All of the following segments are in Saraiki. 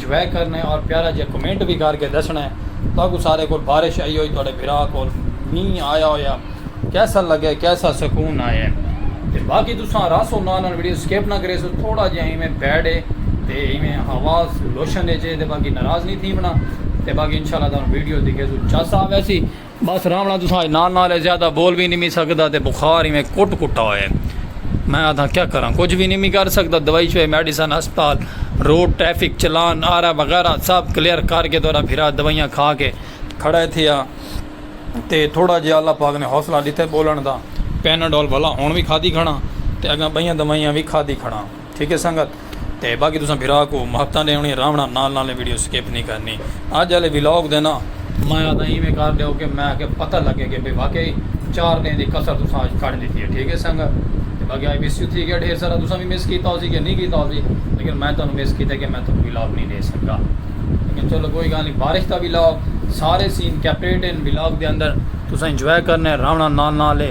جوائے کرنے اور پیارا جیا کمنٹ وی کر کے دسنے تہاکوں سارے کول بارش آئی ہوئی تہاڈے بھرا کول مینہ آیا ہویا کیسا لگے کیسا سکون آئے تے باقی تساں رس ہو نال نال ویڈیو سکپ نہ کریسو تھوڑا جیا ایویں بیڈ ہے تے ایویں آواز لوشن اچ ہے تے باقی ناراض نی تھیونا تے باقی انشاءاللہ تہاکوں ویڈیو دکھیسو چس آویسی۔ بس راونا تساں اج نال نال ہے زیادہ بول بھی نمی سکدا تے بخار ایویں کٹ کٹا ہوئے میں آدھاں کیا کراں کچھ بھی نمی کر سکدا دوائی شوئی میڈیسن ہسپتال روڈ ٹریفک چلان آر آر وغیرہ سب کلیئر کر کے تہاڈا بھرا دوائیاں کھا کے کھڑا تھے آ تے تھوڑا جیا اللہ پاک نے حوصلہ ڈتے بولن دا پیناڈول بھلا ہن وی کھادی کھڑاں تے اگاں بئیاں دوائیاں وی کھادی کھڑاں ٹھیک ہے سنگت تے باقی تساں بھرا کو محبتاں ڈیونی راونڑاں نال نال اے ویڈیو سکپ نی کرنی اج آلے ولاگ دے نا میں آکھدا ایویں کر ڈیو کہ میں کہ پتہ لگے کہ بھئی واقعی چار دن دی کسر تساں اج کڈھ ڈتی ہے ٹھیک ہے سنگت تے باقی آئی مس یو تھی گیا ڈھیر سارا تساں وی مس کیتا ہوسی کہ نی کیتا ہوسی لیکن میں تانوں مس کیتا کہ میں تانوں ولاگ نی ڈے سکا لیکن چلو کوئی گال نی بارش دا ولاگ سارے سین کیپریٹ ہن ولاگ دے اندر تساں انجوائے کرنے راونڑاں نال نال اے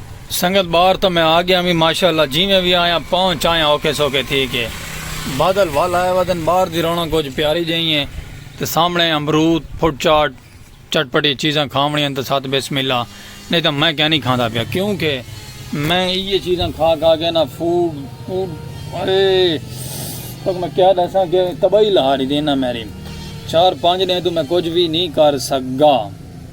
سنگت باہر تاں میں آ گیاں وی ماشاء اللہ جیویں وی آیاں پہنچ آیاں اوکھے سوکھے تھی کے بادل ول آئے ودن باہر دی رونق کجھ پیاری جئیں اے تے سامنے امرود فوڈ چاٹ چٹ پٹی چیزاں کھاونڑیاں ہن تاں ست بسم اللہ نہیں تاں میں کینی کھاندا پیا کیوں کے میں ایہے چیزاں کھا کھا کے نا فوڈ فوڈ اے تک میں کیا ڈساں کے تباہی لہا ڈیتی انہاں میری چار پانچ ڈینہہ توں میں کجھ وی نہیں کر سگا۔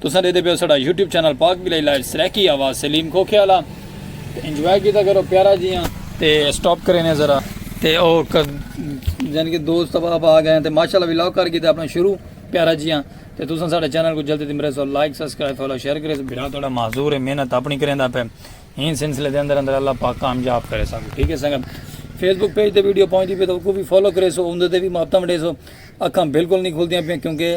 تساں ڈیدے پیو ساڈا یوٹیوب چینل پاک بلائی لائیو سرائیکی آواز سلیم کھوکھے والا تے انجوائے کیتا کرو پیارا جیاں تے سٹاپ کرے نے ذرا تے او یعنی کہ دوست احباب آ گئے تے ماشاءاللہ ولاگ کر کیتا اپنا شروع پیارا جیاں تے تساں ساڈے چینل کو جلدی تمرے سو لائک سبسکرائب فالو شیئر کرے سو بھرا تہاڈا معذور ہے محنت اپنی کریندا پے این سلسلے دے اندر اندر اللہ پاک کامیاب کرے سانو ٹھیک ہے سنگت فیس بک پیج تے ویڈیو پہنچ دی پے تو کو بھی فالو کرے سو اوندے تے بھی محبتاں ونڈے سو اکھاں بالکل نہیں کھلدیاں پے کیونکہ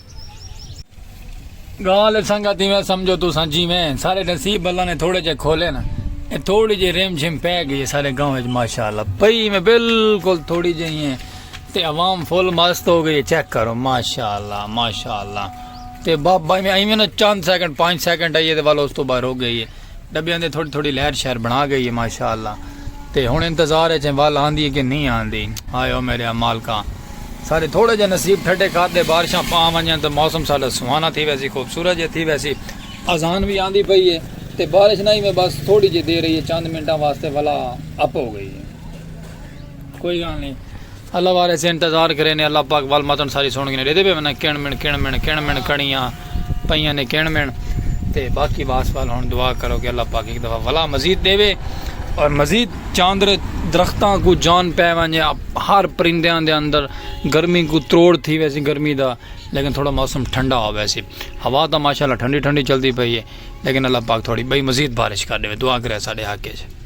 گال اے سنگت ایویں سمجھو تساں جیویں سارے نصیب اللہ نے تھوڑے جے کھولے نا اے تھوڑی جے ریم جھم پے گئی سارے گاؤں وچ ماشاءاللہ پئی میں بالکل تھوڑی جے ہیں تے عوام فل مست ہو گئی چیک کرو ماشاءاللہ ماشاءاللہ تے بابا ایویں ایویں نا چند سیکنڈ پانچ سیکنڈ آئیے تے والا اس تو باہر ہو گئی ہے ڈبیاں دی تھوڑی تھوڑی لہر شہر بنا گئی ہے ماشاءاللہ تے ہن انتظار اچ ہیں ول آندی ہے کہ نہیں آندی ہائے او میرے مالکا سارے تھوڑا جا نصیب ٹھڈے کر دے بارشاں پا ونجن تے موسم ساڈا سہانا تھی ویسی خوبصورت جے تھی ویسی اذان وی آندی پئی ہے تے بارش نہیں میں بس تھوڑی جے دیر رہی ہے چند منٹاں واسطے ولا اپ ہو گئی ہے کوئی گال نہیں اللہ وارے سے انتظار کرے نے اللہ پاک ول متن ساری سن گھنے ڈیدے پے ونا کن من کن من کن من کڑیاں پئیاں نے کن من تے باقی واس وال ہن دعا کرو کہ اللہ پاک ایک دفعہ ولا مزید دے وے اور مزید چاندر درختاں کو جان پے ونجے ہر پرندیاں دے اندر گرمی کو تروڑ تھی ویسی گرمی دا لیکن تھوڑا موسم ٹھنڈا ہو ویسی ہوا تا ماشاءاللہ ٹھنڈی ٹھنڈی چلدی پئی ہے لیکن اللہ پاک تھوڑی بھائی مزید بارش کر دے دعا کرے ساڈے حق ہے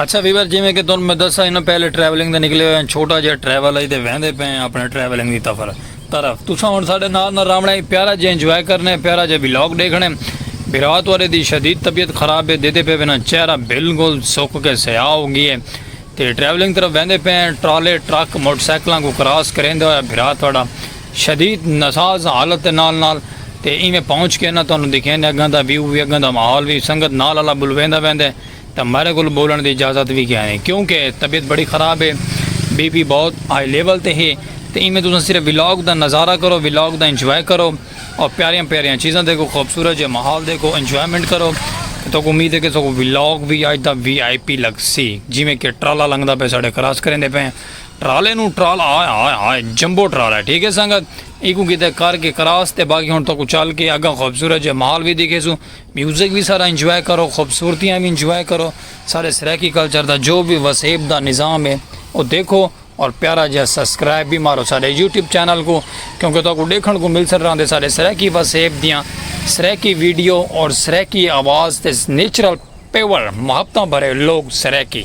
اچھا ویور جیویں کہ تن میں دسا انہاں پہلے ٹریولنگ دے نکلے ہوئے ہیں چھوٹا جہاں ٹریول ہے تے ویندے پے ہیں اپنے ٹریولنگ دی تفر طرف تساں ہن ساڈے نال نہ راونا ایک پیارا جے انجوائے کرنے پیارا جے ولاگ دیکھنے بھرا توارے دی شدید طبیعت خراب ہے دیتے پے وینا چہرہ بالکل سک کے سیاہ ہو گئی ہے تے ٹریولنگ طرف ویندے پے ہیں ٹرالے ٹرک موٹر سائیکلاں کو کراس کریندے ہوئے بھرا تواڈا شدید نساز حالت نال نال تے ایویں پہنچ کے نہ تانوں دکھیندے اگاں دا ویو وی اگاں دا ماحول وی سنگت نال اللہ بلویندا ویندے تاں میرے کول بولن دی اجازت وی کینی کیوں کہ طبیعت بڑی خراب ہے بی پی بہت ہائی لیول تے ہے تاں ایویں تساں صرف ولاگ دا نظارہ کرو ولاگ دا انجوائے کرو اور پیاریاں پیاریاں چیزاں دیکھو خوبصورت جے ماحول دیکھو انجوائمنٹ کرو تو کو امید ہے کہ سو ولاگ وی آج دا وی آئی پی لگ سی جیویں کہ ٹرالا لنگدا پہ ساڑے کراس کریں دے پہ ٹرالے نو ٹرالا آئے آئے آئے جمبو ٹرالا ہے ٹھیک ہے سنگت ایکو کیتے کر کے کراس تے باقی ہون تو کو چل کے اگا خوبصورت جے ماحول وی دیکھے سو میوزک وی سارا انجوائے کرو خوبصورتیاں وی انجوائے کرو سارے سرائیکی کلچر دا جو وی وسیب دا نظام ہے او دیکھو اور پیارا جیہا سبسکرائب وی مارو سارے یوٹیوب چینل کو کیونکہ تو کو ڈیکھن کو مل سر راندے سارے سرائیکی وسیب دیاں سرائیکی ویڈیو اور سرائیکی آواز تے نیچرل پیور محبتاں بھرے لوگ سرائیکی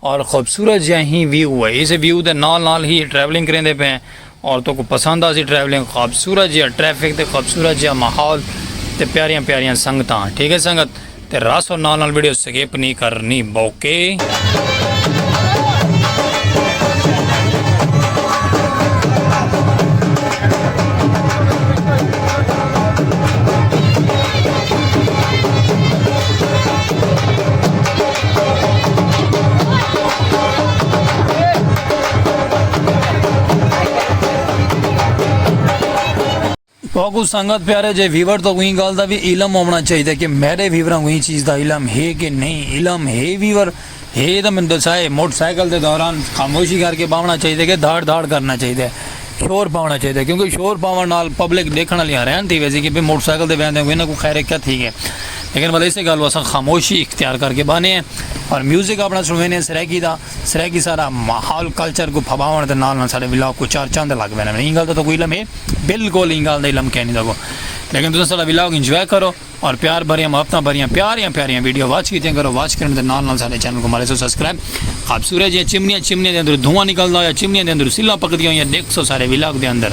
اور خوبصورت جہاں ہی ویو ہے اس ویو دے نال نال ہی ٹریولنگ کریں دے پہ اور تو کو پسند آسی ٹریولنگ خوبصورت جہاں ٹریفک تے خوبصورت جہاں ماحول تے پیاریاں پیاریاں سنگتاں ٹھیک ہے سنگت تے راس اور نال نال ویڈیو سکیپ نہیں کرنی بوکے کو سنگت پیارے جے ویور تو کوئی گل دا بھی علم ہونا چاہیے کہ میرے ویوراں کوئی چیز دا علم ہے کہ نہیں علم ہے ویور ہے تو میں دسائے موٹر سائیکل دے دوران خاموشی کر کے باونا چاہیے کہ دھاڑ دھاڑ کرنا چاہیے شور پاونا چاہیے کیونکہ شور پاون نال پبلک دیکھن والی حیران تھی ویسی کہ موٹر سائیکل دے ویندے ہوئے انہاں کو خیر کیا تھی گئے لیکن مطلب اسے گل واسا خاموشی اختیار کر کے بانے ہیں اور میوزک اپنا سنوینے ہیں سرائیکی دا سرائیکی سارا ماحول کلچر کو پھباون دے نال نال سارے ولاگ کو چار چاند لگ وینے ہیں انگل دا تو کوئی علم ہے بالکل انگل دا علم کہنی دا کو لیکن تسا سارا ولاگ انجوائے کرو اور پیار بھریاں محبتاں بھریاں پیاریاں پیاریاں ویڈیو واچ کیتیاں کرو واچ کرنے دے نال نال سارے چینل کو مارے سو سبسکرائب آپ سورے جی چمنیاں چمنیاں دے اندر دھواں نکلدا ہویا چمنیاں دے اندر سلا پکدیاں ہویاں دیکھ سو سارے ولاگ دے اندر